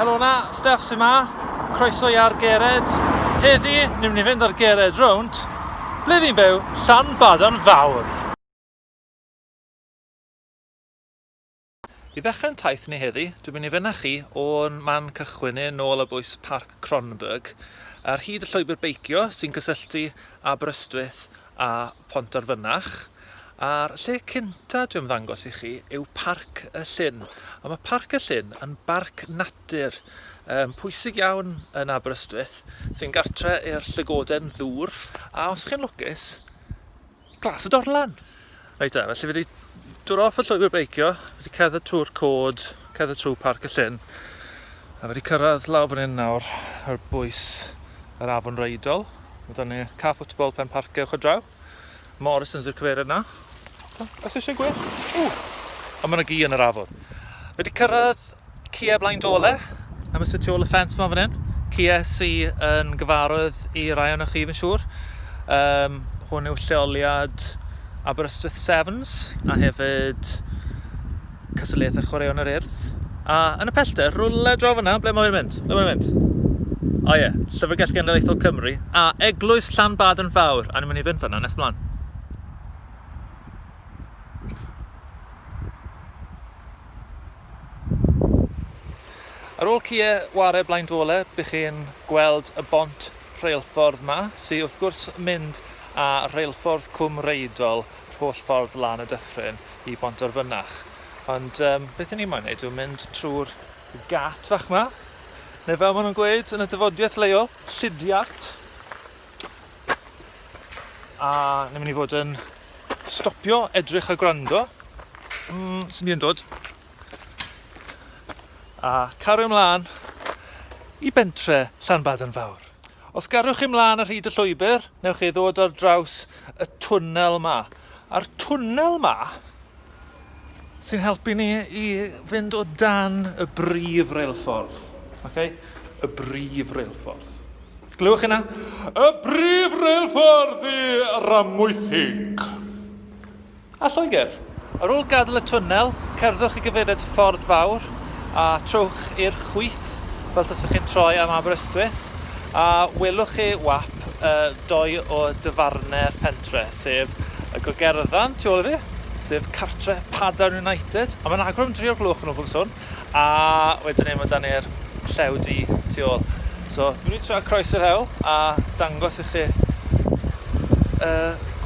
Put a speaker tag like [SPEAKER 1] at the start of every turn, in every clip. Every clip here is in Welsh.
[SPEAKER 1] Helo na, Steph sy'n ma, croeso i ar gered. Heddi, ni'n mynd i fynd ar gered rownd, ble fi'n byw, Llan Badan Fawr. I ddechrau'n taith ni heddi, dwi'n mynd i fynychu o'n man cychwyn ni nôl ar bwys Parc Kronborg, ar hyd y llwybr beicio sy'n cysylltu Aberystwyth a Pontarfynach. A'r lle cynta dwi'n ymddangos i chi yw Parc y Llyn. A mae Parc y Llyn yn barc natur um, pwysig iawn yn Aberystwyth sy'n gartre i'r llygoden ddŵr a os chi'n lwcus Glas y Dorlan! Reit da, felly fi wedi dod off y llwybr beicio, fi wedi cerdded trwy'r cod, cerdded trwy Parc y Llyn, a fi wedi cyrraedd lawr fan hyn nawr ar bwys yr afon Reidol. Mae dan ni caff football pen parc ewch o draw. Morrison's i'r cyfeiriad na. Os eisiau gwell. Ww! A mae yna gi yn yr afon. Fi wedi cyrraedd Kia Blaen Dole, am y tu ôl y ffens ma fan hyn. Kia sy yn gyfarwydd i rai o'n chi fi'n siŵr. Um, hwn yw lleoliad Aberystwyth Sevens a hefyd cystadleuaethau chwaraeon yr urdd. A yn y pellter, rhywle draw fyna, ble mae'n mynd? Ble mae'n mynd? O ie, yeah. Llyfrgell Genedlaethol Cymru a Eglwys Llanbad yn fawr. A ni'n mynd i fynd fyna nes mlaen. Ar ôl cye ware blaen Dwole bych chi'n gweld y bont rheilffordd 'ma, sy wrth gwrs mynd â rheilffordd Cwm Reidol yr holl ffordd lan y dyffryn i Bontarfynach. Ond yym beth 'yn ni moyn neud yw mynd trw'r gât fach 'ma, neu fel ma' nhw'n gweud yn y dyfodiaeth leol, llidiart. A ni'n mynd i fod yn stopio, edrych a gwrando. Mm, sy'n mynd i'n dod. A cario ymlaen i bentre Llanbad yn fawr. Os garwch chi mlaen ar hyd y llwybr, newch chi ddod ar draws y twnnel ma. A'r twnnel ma, sy'n helpu ni i fynd o dan y brif reilffordd. Okay? Y brif reilffordd. Glywch yna? Y brif reilffordd i Ramwythig. A Lloegr. Ar ôl gadael y twnnel, cerddwch i gyfeiriad Ffordd Fawr a trowch i'r chwith fel tasech chi'n troi am Aberystwyth a welwch chi wap uh, doi o dyfarnau'r pen cartre, sef y gogerddan tu ôl i fi, sef cartre Padarn United, a mae'n agor am dri o'r gloch yn ôl bob sôn, a wedyn ei mae dan e'r llew di tu ôl. So, dwi'n mynd i tra croes yr hewl a dangos i chi y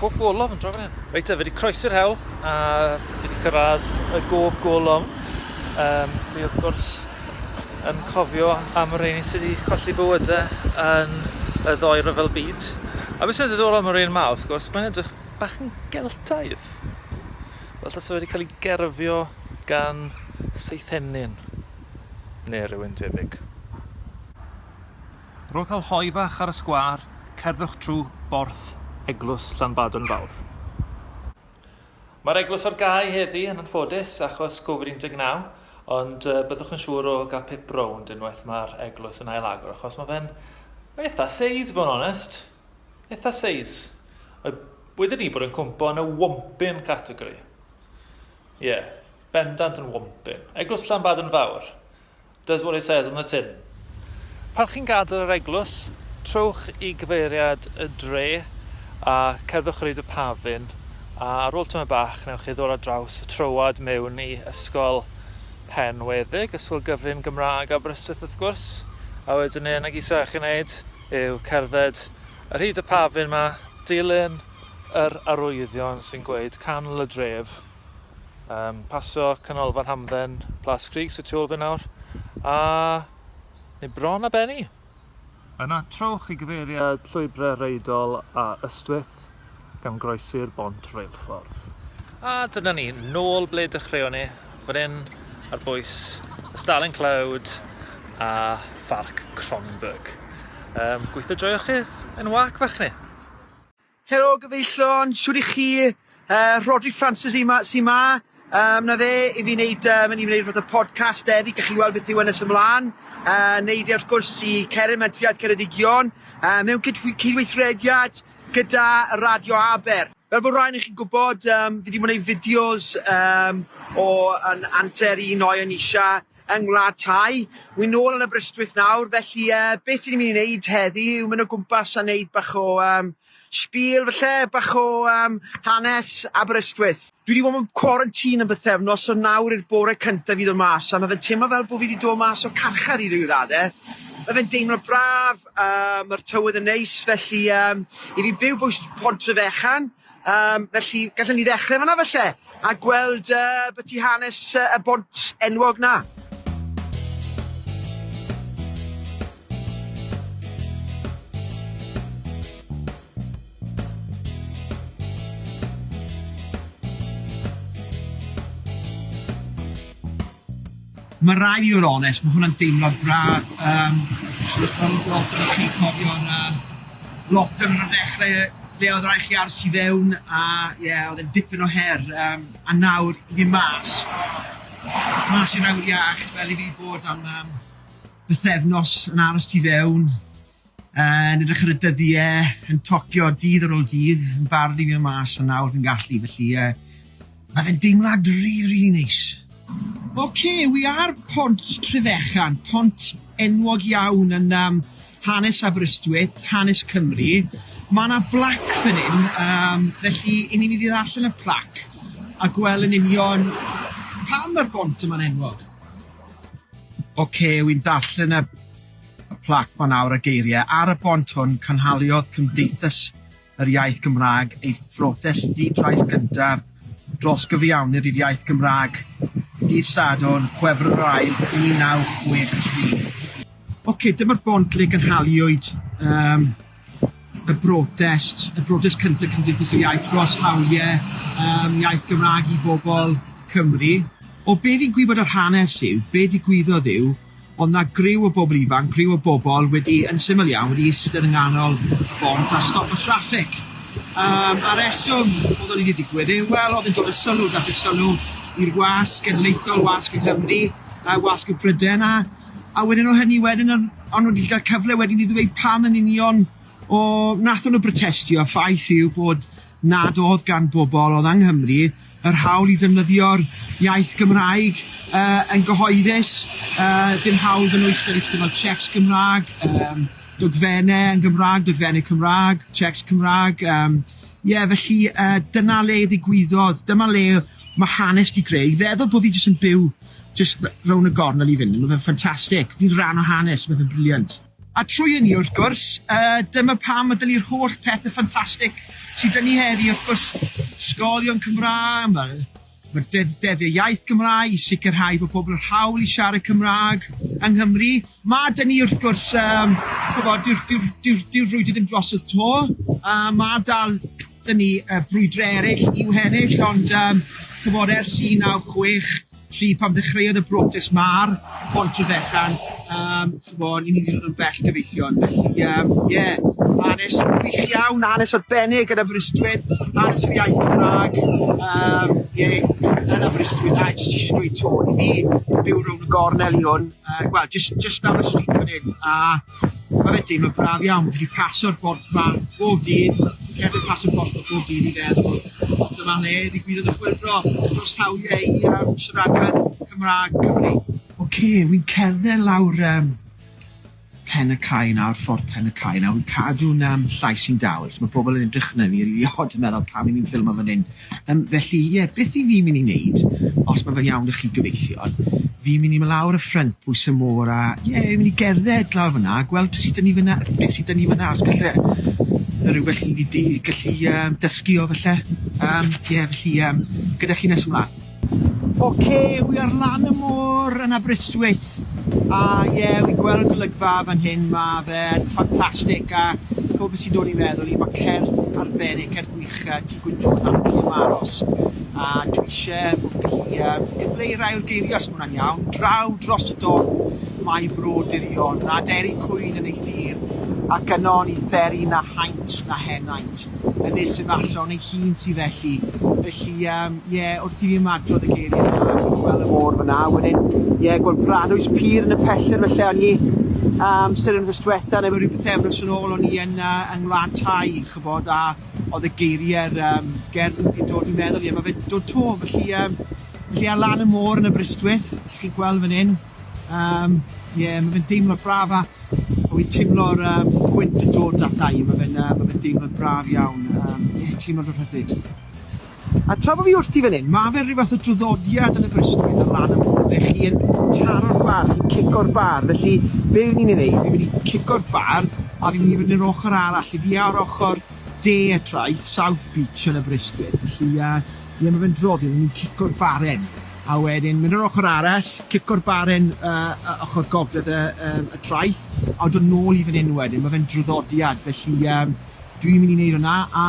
[SPEAKER 1] cof golofn yn draw fan hyn. Reit, fe wedi croesi'r hewl a fi wedi cyrraedd y gof golofn, um, sydd wrth gwrs yn cofio am y rheini sydd wedi colli bywyde yn y ddoi rhyfel byd. A beth sy'n ddiddorol am yr un ma, wrth gwrs, mae'n edrych bach yn Geltaidd. Fel tas wedi cael ei gerfio gan seithenyn, neu rhywun debyg. Ar ôl cael hoe bach ar y sgwâr, cerddwch trwy borth eglws Llanbadarn Fawr. Mae'r eglwys ar gau heddi yn anffodus achos covid 19, ond byddwch yn siŵr o gael pip rownd unwaith mae'r eglwys yn ail-agor achos mae fe'n eitha seis, fo'n onest. Eitha seis. Wedi ni bod yn cwmpo yn y wompyn categori. Ie, yeah, bendant yn wompyn. Eglwys Llanbad yn fawr. Does what it says on the tin. Pan chi'n gadael yr eglwys, trowch i gyfeiriad y dre a cerddwch ar hyd y pafin, a ar ôl tamaid bach newch chi ddod ar draws y troad mewn i Ysgol Penweddig, Ysgol Gyfun Gymraeg Aberystwyth wrth gwrs, a wedyn y unig isa' chi'n neud yw cerdded ar hyd y pafin 'ma, dilyn yr arwyddion sy'n gweud canol y dref. Um, pasio canolfan hamdden Plas Creek sy tu ôl fi nawr. A... neu bron a benni. Yna trowch i gyfeiriad llwybrau reidol a Ystwyth gan groesi'r bont reilffordd. A dyna ni, nôl ble dechreuon ni, fan hyn ar bwys y Starling Cloud a Pharc Cronberg. Um, gweithio joioch chi yn wac fach ni. Helo
[SPEAKER 2] gyfeillion, siwr i chi? Uh, Rodri Francis i ma, si ma. Um, na fe, i fi wneud, um, yn i wneud rhywbeth y podcast eddi, gach chi weld beth yw yn ys ymlaen. Uh, neud e wrth gwrs i Ceren Mentriad Ceredigion, uh, mewn cydweithrediad gyda Radio Aber. Fel bod rhaid i chi'n gwybod, um, fi wedi gwneud fideos um, o yn anter un o'i yn eisiau yng Ngwlad Thai. Wi'n nôl yn Aberystwyth nawr, felly yy beth i ni'n mynd i wneud heddi yw mynd o gwmpas a wneud bach o um, spiel falle, bach o um, hanes Aberystwyth. Dwi wedi bod mewn quarantine am bythefnos, so nawr i'r bore cyntaf i ddod mas, a mae fe'n teimlo fel bod fi wedi dod mas o carchar i ryw ddade. Mae fe'n deimlo braf, uh, mae'r tywydd yn neis, felly um, i fi byw bwys Pont Trefechan, Yym, felly, gallwn ni ddechrau fanna falle, a gweld uh, byti hanes uh, y bont enwog na. Mae rai' fi fod yn onest, mae hwnna'n deimlad braf, yym shwt ma' nw'n gweld arnoch chi cofion a lot yn y ddechre le oedd rai' chi aros i fewn a ie oedd e'n dipyn o her yym a nawr i fyn' mas mas i'r awyr iach fel i fi bod am yym bythefnos yn aros tu fewn Yn edrych ar y dyddie, yn tocio dydd ar ôl dydd, yn barod i fynd mas a nawr fi'n gallu, felly yy ma' fe'n deimlad rili rili neis. Ok, wi ar pont Trefechan, pont enwog iawn yn yym hanes Aberystwyth, hanes Cymru, ma' 'na blac fan hyn yym felly i ni mynd i ddarllen y plac a gwel' yn union pam ma'r bont yma'n enwog. Ok, wi'n darllen y y plac ma nawr y geiriau ar y bont hwn cynhaliodd Cymdeithas yr Iaith Gymraeg ei phrotest di-drais gyntaf dros gyfiawned i'r iaith Gymraeg dydd Sadwrn, Chwefror yr Ail, 1963. Ocê, dyma'r bont le gynhaliwyd um, y brotest, y brotest cyntaf Cymdeithas yr Iaith dros hawliau yym iaith Gymraeg i bobl Cymru. O be fi'n gwybod o'r hanes yw, be digwyddodd yw, oedd 'na griw o bobl ifanc, griw o bobl wedi, yn syml iawn, wedi eistedd yng nghanol y bont a stop y traffig. Yym a reswm oedd hynny wedi digwydd yw, wel, oedd e'n dod â sylw, daeth y sylw i'r wasg genedlaethol, wasg yng Nghymru, yy wasg y Pryden a A wedyn o hynny wedyn odd o'n n'w wedi ga'l cyfle wedyn i ddweud pam yn union o nathon n'w brotestio, ffaith yw bod nad odd gan bobol odd yng Nghymru yr hawl i ddefnyddio'r iaith Gymraeg yy yn gyhoeddus, yy dim hawl iddyn nhw i sgwennu pethe fel cheques Gymra'g, yym dogfenne yn Gymra'g, dogfenne Cymra'g, cheques Cymra'g, yym ie felly yy dyna le ddigwyddodd, dyma le ma' hanes di greu i feddwl bo fi jyst yn byw Jyst r- rownd y gornel i fyn 'yn, ma' fe'n ffantastic! Fi'n rhan o hanes, ma' fe'n brilliant. A trwy hynny, wrth gwrs, yy dyma pam ma' 'da ni'r holl pethe ffantastic sy 'da ni heddi, wrth gwrs, ysgolion Cymraeg, ma' ma'r deddf Deddfau Iaith Gymraeg i sicrhau bo' pobl â'r hawl i siarad Cymraeg yng Nghymru. Ma' 'da ni, wrth gwrs, yym ch'mod, dyw'r dyw'r dyw'r dyw'r frwydr ddim drosodd 'to, a ma' dal Dyn ni yy brwydrau ereill i'w hennill ond yym ch'mod ers un naw chwech tri pan ddechreuodd y brotest ma'r Bont y Fechan yym ch'mod ni ni'n dod yn bell gyfeillion felly yym ie hanes gwych iawn hanes arbennig yn Aberystwyth hanes yr iaith Cymrâg yym ie yn Aberystwyth a jyst isie dweud 'to i fi byw rownd y gornel i hwn yy wel jyst jyst lawr y stryd fan 'yn a Mae fe'n teimlad braf iawn, fi'n gallu paso'r bont 'ma bob dydd, cerdded mas o'r dosbarth bob dydd i feddwl, dyma le ddigwyddodd y chwyldro dros hawliau i yym siaradwyr Cymraeg Cymru. Ok, wi'n cerdded lawr yym Pen y Cae nawr, Ffordd Pen y Cae nawr, wi'n cadw'n yym llais i'n dawel, so ma' pobl yn edrych arna fi rili od yn meddwl pam 'yn ni'n ffilmo fan hyn. Yym, felly, ie, beth 'y fi'n myn' i neud, os ma' fe'n iawn 'da chi gyfeillion, fi'n myn' i my' lawr y ffrynt pwys y môr a, ie, myn' i gerdded lawr fyn 'na a gweld be' sy 'da ni fyn 'na, be' sy 'da ni fyn 'na, os galle yy rywbeth i fi di- gallu yym dysgu o falle. Yym, ie, felly yym, gyda chi nes ymlan. Oce wi ar lan y môr yn Aberystwyth a ie wi'n gweld golygfa fan hyn ma' fe'n ffantastic a ch'mo' be' sy'n dod i meddwl i ma' cerdd arbennig cerdd gwych yy Tŷ Gwyndon lan yn Tŷ y Maros a dwi isie bo' fi'n gallu yym cyfleu rhai o'r geirie os ma' wnna'n iawn, draw dros y don mae bro dirion a deri cwyn yn ei thir ac yno ni fferi na haint Os na henaint, yn nes ef allan ei hun sy felly. Felly, yym, ie, wrth i fi ymadrodd y geirie 'na, a chi'n gwel' y môr fana, wedyn, ie, gwel' Paradwys Pur yn y pellter falle, o'n i, yym, seren wthnos dwetha, ne' ryw bythefnos yn ôl, o'n i yn yy yng Ngwlad Thai, ch'bod, a odd y geirie'r yym gerdd yn yn dod i meddwl i, a ma' fe'n dod 'to, felly yym, felly ar lan y môr yn Aberystwyth, 'ych chi'n gwel' fyn 'yn, Yym ie ma' fe'n deimlad braf a a wi'n timlo'r yym gwynt yn dod ata i ma' fe'n yy ma' fe'n deimlad braf iawn yym ie timlo dy rhyddid. A tra bo' fi wrthi fyn 'yn, ma' fe ryw fath o draddodiad yn Aberystwyth ar lan y môr ble chi yn taro'r bar, chi'n cico'r bar, felly be' wi myn' i neud, fi myn' i cico'r bar a fi myn' i fyn' i'r ochor arall, fi fi ar ochor de y traeth, South Beach yn Aberystwyth, felly yy ie ma' fe'n draddodiad, 'yn ni'n cico'r baren. A wedyn mynd yr ochr arall, cico'r baren yy yy ochr gogledd y yym y traeth, a dod nôl i fan 'yn wedyn, ma' fe'n draddodiad, felly yym dwi'n mynd i neud wnna, a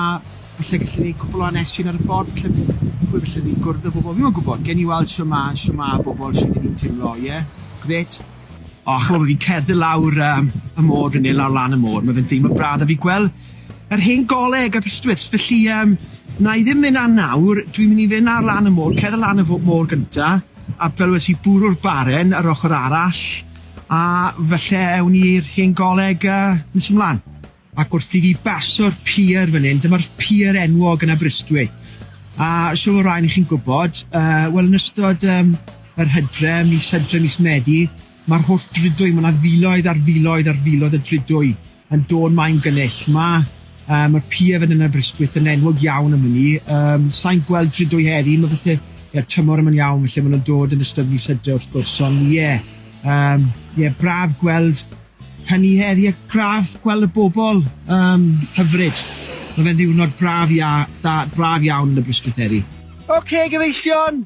[SPEAKER 2] falle gallu neud cwpwl o hanesion ar y ffordd, falle p- p- pwy falle fi'n gwrdd â bobol, fi mo'yn gwbod, gewn ni weld shwt ma' shwt ma' bobol, shwt 'yn ni'n timlo, ie? Grêt. O ch'mo' bo' fi'n cerdded lawr yym y môr fan 'yn, lawr lan y môr, ma' fe'n deimlo braf 'da fi gwel' Yr hen goleg Aberystwyth. Felly yym na i ddim mynd lan nawr, dwi'n mynd i fynd ar lan y môr, cerdded lan y fo- môr gynta, a fel wedes i bwrw'r baren yr ochr arall, a falle ewn ni i'r hen goleg yy nes ymlan. Ac wrth i ni baso'r pier fan hyn, dyma'r pier enwog yn Aberystwyth, a siŵr o rai o chi'n gwybod yy wel yn ystod yym yr hydre, mis Hydre, mis Medi, ma'r holl dridiau, ma' 'na filoedd ar filoedd ar filoedd o dridiau yn dod mai'n gynnull. Ma yym y pier yn yn Aberystwyth yn enwog iawn am ynny. Yym sai'n gweld drydo'i heddi ma' falle ie tymor yma'n iawn falle ma' nw'n dod yn ystod mis Hydre wrth gwrs on' ie yym ie braf gweld hynny heddi a braf gweld y bobol yym hyfryd. Ma' fe'n ddiwrnod braf ia- da braf iawn yn Aberystwyth heddi. Ok gyfeillion!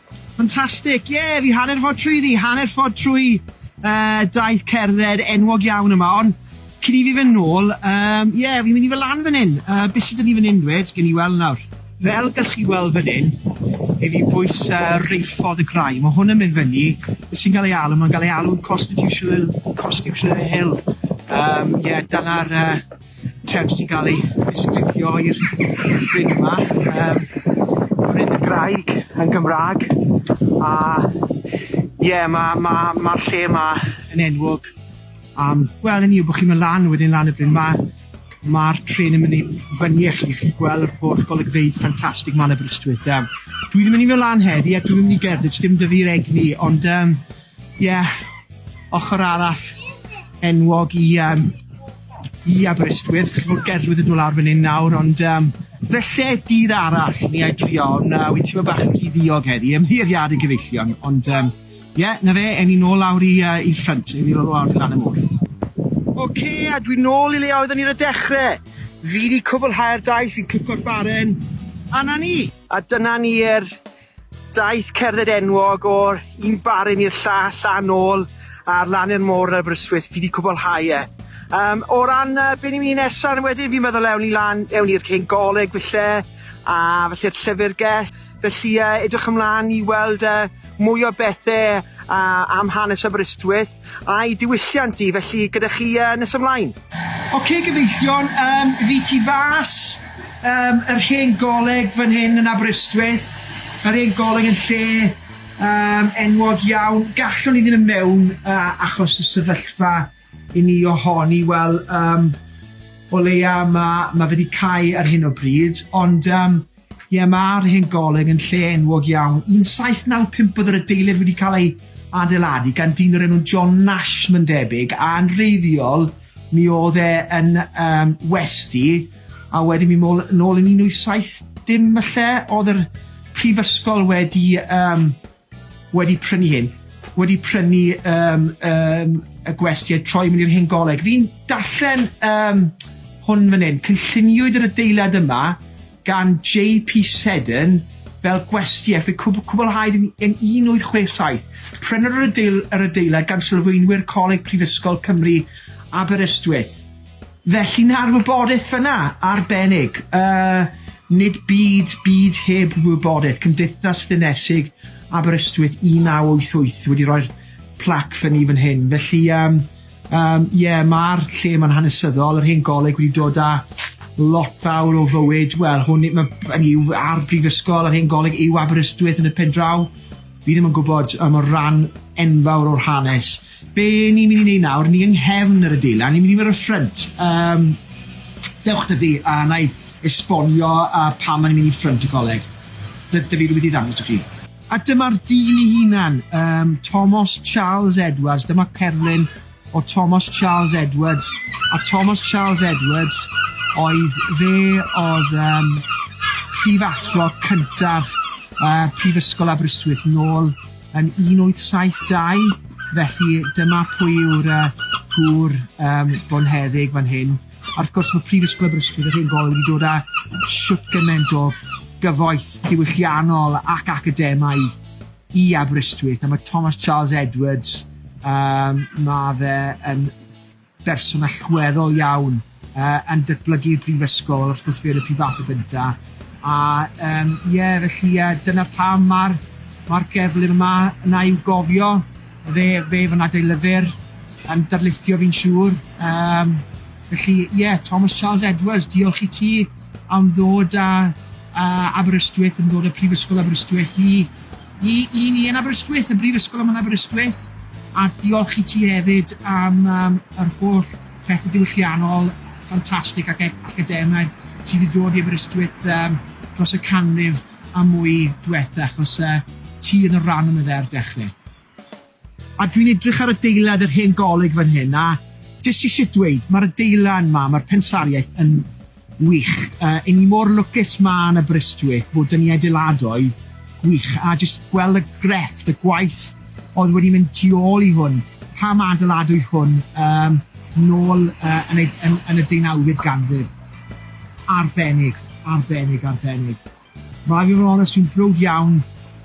[SPEAKER 2] Fantastic! Ie, fi hanner ffordd trwyddi, hanner ffordd trwy yy daith cerdded enwog iawn yma on' cyn i fi fyn' nôl yym ie fi'n mynd i fyn' lan fyn 'yn yy be' sy 'da ni fyn 'yn dwed gewn ni weld nawr. Fel gallwch chi weld fyn 'yn i fi bwys yy reilffordd y graig ma' hwn yn mynd fyny be' sy'n ga'l ei alw ma'n ga'l ei alw'n costitutiol costutitional hill yym ie dyna'r yy Term sy'n cael ei ddisgrifio i'r bryn yma, um, bryn y graig yn Gymraeg, a ie, yeah, mae'r ma, ma, ma lle yma yn enwog Um, Wel, yn i, bod chi'n mynd lan wedyn lan y bryn, mae'r ma tren yn mynd i fyny i chi, chi'n gweld yr holl golygfeydd ffantastig ma'n Aberystwyth. Um, dwi ddim yn mynd i mynd lan heddi, a dwi'n mynd i gerdded, dim dy fi'r egni, ond um, Ie, ochr arall enwog i yym i Aberystwyth, chi'n gwbod gerddwyr yn do' lawr fyn 'yn nawr ond yym falle dydd arall i ni a'i drio on' yy wi'n teimlo bach yn rhy ddiog heddi, ymddiheuriade gyfeillion ond yym ie 'na fe ewn ni nôl lawr i yy i ffrynt ewn ni nôl lawr i lan y môr. Ok a dwi nôl i le oeddwn ni ar y dechre! Fi 'di cwbwlhau'r daith fi'n cico'r baren a 'na ni! A dyna ni yr Daeth cerdded enwog o'r un baryn i'r llall a nôl ar lan i'r môr yn Aberystwyth, fi 'di cwblhau e. Yym, o ran yy be' ni'n myn' i nesa yn wedyn fi'n meddwl ewn ni lan ewn ni i'r cen goleg falle a falle'r llyfyrgell. Felly yy edrych ymlan i weld yy mwy o bethe yy am hanes Aberystwyth. A'i diwylliant hi felly gyda chi yy nes ymlaen? Ok gyfeillion yym fi tu fas yym yr hen goleg fan hyn yn Aberystwyth yr hen goleg yn lle yym enwog iawn gallwn i ddim yn mewn yy achos y sefyllfa i ni ohoni wel yym o leia ma' ma' fe di cau ar hyn o bryd ond yym Ie, mae'r Hen Goleg yn lle enwog iawn. 1795 oedd yr adeilad wedi cael ei adeiladu gan dyn o'r enw John Nash mae'n debyg, a'n wreiddiol mi oedd e yn um, westi, a wedyn mi môl, nôl yn 1870 falle, oedd yr prifysgol wedi um, wedi prynu hyn, wedi prynu yym yym y gwesty a troi mynd i'r hen goleg. Fi'n darllen yym hwn fan hyn, cynlluniwyd yr adeilad yma gan Jay P Seddon fel gwesty a fe cwb- cwblhaed yn yn un wyth chwe saith. Prynwr yr adeil- yr adeilad gan sylfaenwyr Coleg Prifysgol Cymru Aberystwyth. Felly na'r wybodaeth fyna, arbennig. Yy nid byd byd heb wybodaeth, Cymdeithas Ddinesig Aberystwyth 1988 wedi rhoi'r plac fyny fan hyn, felly yym yym ie ma'r lle ma'n hanesyddol, yr hen goleg wedi dod â lot fawr o fywyd, wel hwn i- ma' hynny yw a'r brifysgol yr hen goleg yw Aberystwyth yn y pen draw? Fi ddim yn gwbod on' ma' ran enfawr o'r hanes Be ni'n mynd i neud nawr, ni yng nghefn yr adeilad, ni'n mynd i mynd i'r ffrynt, yym dewch 'da fi a wna i esbonio yy pam o'n ni'n mynd i ffrynt y coleg. D- dw i rywbeth i ddangos i chi. A dyma'r dyn ei hunan, yym Tomos Charles Edwards, dyma cerflun o Tomos Charles Edwards, a Tomos Charles Edwards oedd, fe oedd yym prif athro cyntaf yy Prifysgol Aberystwyth nôl yn 1872, felly dyma pwy yw'r yy gŵr yym bonheddig fan hyn. A wrth gwrs ma' Prifysgol Aberystwyth yr Hen Goll wedi dod â shwt gyment o gyfoeth diwylliannol ac academaidd i Aberystwyth a ma' Thomas Charles Edwards yym ma' fe yn berson allweddol iawn yy yn datblygu'r brifysgol wrth gwrs fe yn y prifathra gynta a yym ie felly yy dyna pam ma'r ma'r cerflun yma yna i'w gofio fe fe fy nad ei lyfr yn darlithio fi'n siŵr yym felly ie Thomas Charles Edwards diolch i ti am ddod â yy Aberystwyth yn ddod â prifysgol Aberystwyth i I i ni yn Aberystwyth, y Brifysgol yma yn Aberystwyth, a diolch i ti hefyd am yym yr holl pethe diwylliannol ffantastig ac ac academaidd sydd wedi dod i Aberystwyth yym dros y canrif a mwy dwetha achos yy ti yn y ran yma fe ar dechre. A dwi'n edrych ar adeilad yr hen goleg fan hyn a jyst isie dweud ma'r adeilad 'ma, ma'r pensaerniaeth yn wych. Yy 'yn ni mor lwcus 'ma yn Aberystwyth bod 'da ni adeiladoedd gwych a jyst gweld y grefft, y gwaith o'dd wedi mynd tu ôl i hwn, pam adeiladwyd hwn yym nôl yy yn ei yn yn y deunawfed ganrif. Arbennig, arbennig, arbennig. Mae fy mrawd a swyn prowd iawn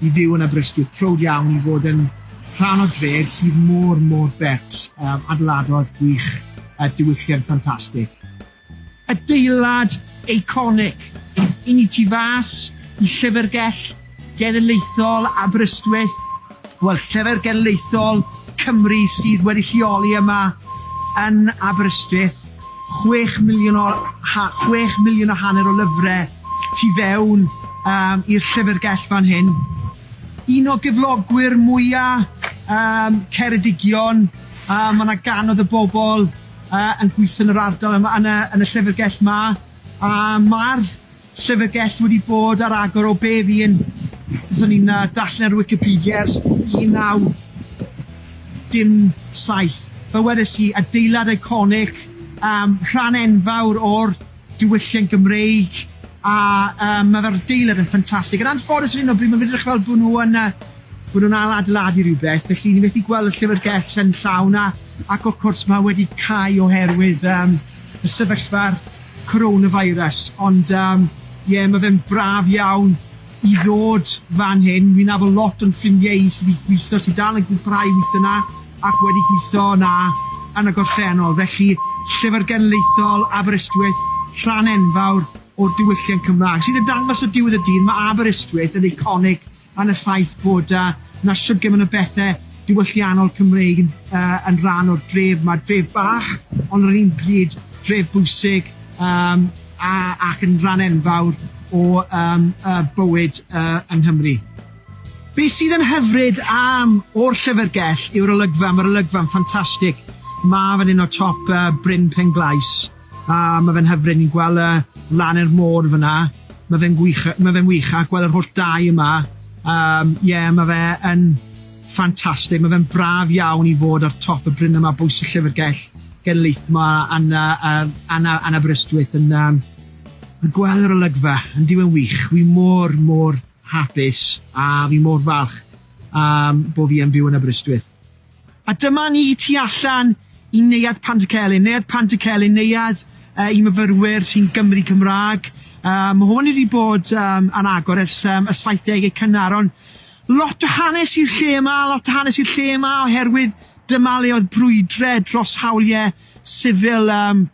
[SPEAKER 2] i fyw yn Aberystwyth, prowd iawn i fod yn rhan o dref sydd mor, mor bert, yym, adeiladodd gwych, yy, diwylliant ffantastig. Adeilad eiconig! I ni tu fas i Llyfrgell Genedlaethol Aberystwyth, Wel, Llyfr Genedlaethol Cymru sydd wedi lleoli yma yn Aberystwyth, chwech miliwn o ha- chwech miliwn a hanner o lyfre tu fewn um, i'r llyfrgell fan hyn. Un o gyflogwyr mwya um, Ceredigion, uh, mae yna ganodd y bobl uh, yn gweithio yn yr ardal yma, yn y, yn y llyfrgell ma, a mae'r Llyfrgell wedi bod ar agor o be fu'n, beth o'n i'n yy darllen ar Wicipedia, ers 1917. Fel wedes i, adeilad eiconig, yym rhan enfawr o'r diwylliant Gymreig, a yym ma' fe'r adeilad yn ffantastig. Yn anffodus ar hyn o bryd ma'n edrych fel bo' nw yn yy bo' nw'n ail adeiladu rywbeth, felly ni methu gweld y llyfrgell yn llawn a ac wrth cwrs ma' wedi cau oherwydd yym y sefyllfa'r coronavirus ond yym ie ma' fe'n braf iawn i ddod fan hyn, wi'n nabod lot o'n ffrindie i sy 'di gwitho sy dal yn gwmpwrhau i witho 'na ac wedi gwitho 'na yn y gorffennol felly Llyfr Genedlaethol Aberystwyth rhan enfawr o'r diwylliant Cymra'g sydd yn dangos o diwedd y dydd ma' Aberystwyth yn eiconig yn y ffaith bod yy 'na shwd gymaint o bethe diwylliannol Cymreig yn yy yn rhan o'r dref 'ma, dref bach ond ar yr un pryd dref bwysig yym a ac yn rhan enfawr o yym yy bywyd yy yng Nghymru. Be' sydd yn hyfryd am o'r Llyfyrgell yw'r olygfa, ma'r olygfa'n ffantastig, ma' fan 'yn o top yy Bryn Penglais. A ma' fe'n hyfryd ni'n gwel' e lan i'r môr fan 'na. Ma' fe'n gwych yy ma' fe'n wych a gwel' yr holl dai yma yym ie ma' fe yn ffantastig ma' fe'n braf iawn i fod ar top y bryn yma bwys y llyfrgell genedlaeth 'ma yn yy yym yn yy yn Aberystwyth yn yym yn gwel' yr olygfa yndyw e'n wych wi mor mor hapus a fi mor falch yym bo' fi yn byw yn Aberystwyth. A dyma ni y tu allan i Neuadd Pantycelyn. Neuadd Pantycelyn, neuadd uh, i myfyrwyr sy'n Gymru Cymraeg. Uh, mae hwn wedi bod um, yn agor ers um, y 70au cynnar, ond lot o hanes i'r lle yma, lot o hanes i'r lle yma, oherwydd dyma le oedd brwydre dros hawliau sifil um,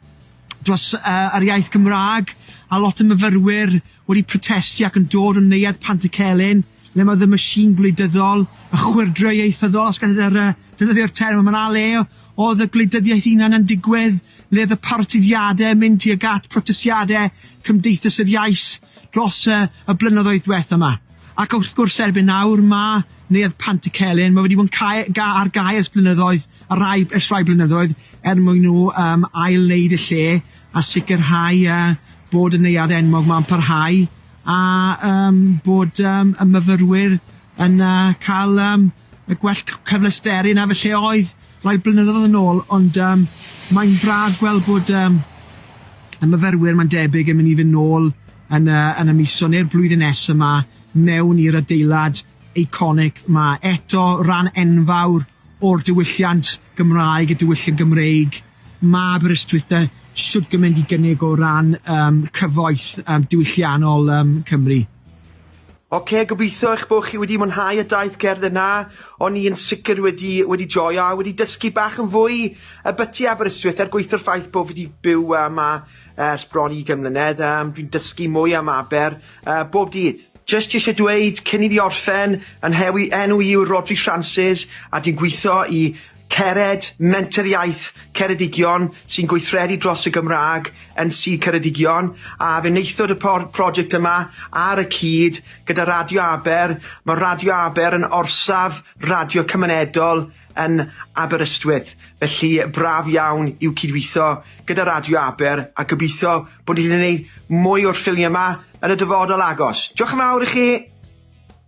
[SPEAKER 2] dros uh, yr iaith Gymraeg, a lot o myfyrwyr wedi protesti ac yn dod yn Neuadd Pantycelyn, le mae The Machine gwleidyddol, y chwyrdro ieithyddol, os gallai defnyddio'r term yma, na le oedd y gwleidyddiaeth hunan yn digwydd, le oedd y parotidiadau yn mynd tuag at protestiadau Cymdeithas yr Iaith dros y y blynyddoedd diwetha' yma. Ac wrth gwrs erbyn nawr mae Neuadd Pantycelyn, mae wedi bod yn cau ga- ar gau ers blynyddoedd, ar rai ers rhai blynyddoedd, er mwyn nhw yym ail-wneud y lle, a sicrhau yy bod y neuadd enwog 'ma'n parhau a yym bod yym y myfyrwyr yn yy cael yym y gwell c- cyfleusterau na felly oedd rai blynyddoedd yn ôl ond yym mae'n braf gweld bod yym y myfyrwyr mae'n debyg yn mynd i fynd nôl yn yy yn y miso neu'r blwyddyn nesa 'ma mewn i'r adeilad eiconig 'ma eto ran enfawr o'r diwylliant Gymraeg y diwylliant Gymreig Mae Aberystwyth de shwt gymaint i gynnig o ran yym cyfoeth yym diwylliannol yym Cymru. Oce, gobeithio eich bod chi wedi mwynhau y daith gerdd yna, o'n i yn sicr wedi wedi joio a wedi dysgu bach yn fwy ybyty Aberystwyth er gweithio'r ffaith bod fi wedi byw yy 'ma ers bron i ugain mlynedd yym dwi'n dysgu mwy am Aber yy bob dydd. Jyst isie dweud cyn i fi orffen, 'y nhewi enw i yw Rhodri Francis a dwi'n gweithio i Cered, Menter Iaith Ceredigion sy'n gweithredu dros y Gymraeg yn Sir Ceredigion a fe wnaethod y por- prosiect yma ar y cyd gyda Radio Aber. Mae Radio Aber yn orsaf radio cymunedol yn Aberystwyth, felly braf iawn i'w cydweithio gyda Radio Aber a gobeithio bod ni'n gwneud mwy o'r ffilmiau yma yn y dyfodol agos. Diolch yn fawr i chi!